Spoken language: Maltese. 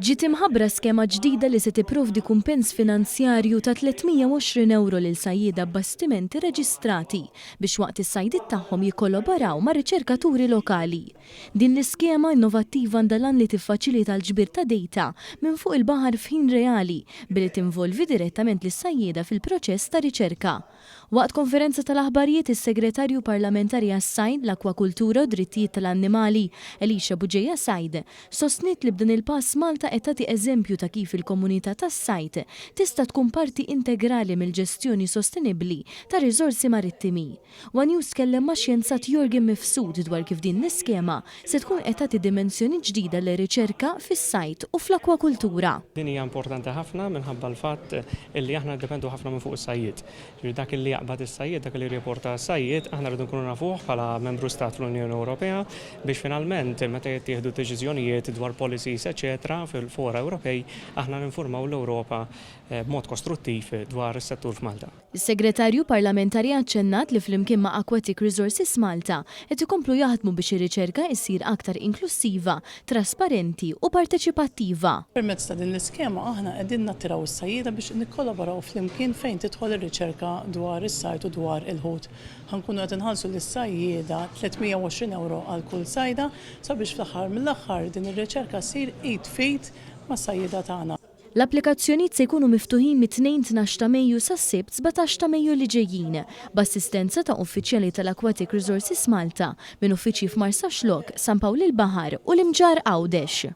Ġiet imħabbra skema ġdida li se tipprovdi kumpens finanzjarju ta' 320 ewro lil sajjieda b'bastimenti reġistrati biex waqt is-sajdiet tagħhom jikkoloboraw ma' riċerkaturi lokali. Din l-iskema innovattiva għandha l-għan li tiffaċilita l-ġbir ta' dejta minn fuq il-baħar f'ħin reali billi tinvolvi direttament lis-sajjieda fil-proċess ta' riċerka. Waqt konferenza tal-aħbarijiet is-Segretarju Parlamentari għas-Sajd, l-Akkwakultura u d-Drittijiet tal-Annimali, Elisha Bugeja Said, sostniet li b'dan il-pass Malta qed tagħti eżempju ta' kif il-komunità tas-sajd tista' tkun parti integrali mill-ġestjoni sostenibbli tar-riżorsi marittimi. One News tkellem ma' xjenzat Yorgen Mifsud dwar kif din l-iskema se tkun qed tagħti dimensjoni ġdida lir-riċerka fis-sajd u fl-akkwakultura. Din hija importanti ħafna minħabba l-fatt li aħna niddependu ħafna minn fuq is-sajjied. Jiġifieri dak li jaqbad is-sajjied, dak li jirripporta s-sajjied, aħna rridu nkunu nafuh bħala membru stat fl-Unjoni Ewropea biex finalment meta jittieħdu d-deċiżjonijiet dwar policies eċċetera fil-fora Ewropej, aħna ninfurmaw l-Ewropa b'mod kostruttiv dwar is-settur f'Malta. Is-Segretarju Parlamentari aċċennat li flimkien ma' Aquatic Resources Malta qed ikomplu jaħdmu biex ir-riċerka issir aktar inklussiva, trasparenti u parteċipattiva. Permezz ta' din l-iskema aħna qegħdin nattiraw is-sajjieda biex nikkolaboraw flimkien fejn tidħol ir-riċerka dwar is-sajd u dwar il-ħut. Ħa nkunu qed inħallsu lis-sajjieda 320 ewro għal kull sajda sabiex fl-aħħar mill-aħħar din ir-riċerka ssir id f'id mas-sajjieda tagħna. L-applikazzjonijiet se jkunu miftuħin mit-Tnejn tnax ta' Mejju sas-Sibt sbatax ta' Mejju li ġejjin, b'assistenza ta' uffiċjali tal-Aquatic Resources Malta, minn uffiċċji f'Marsaxlokk, San Pawl il-Baħar u l-Imġarr Għawdex.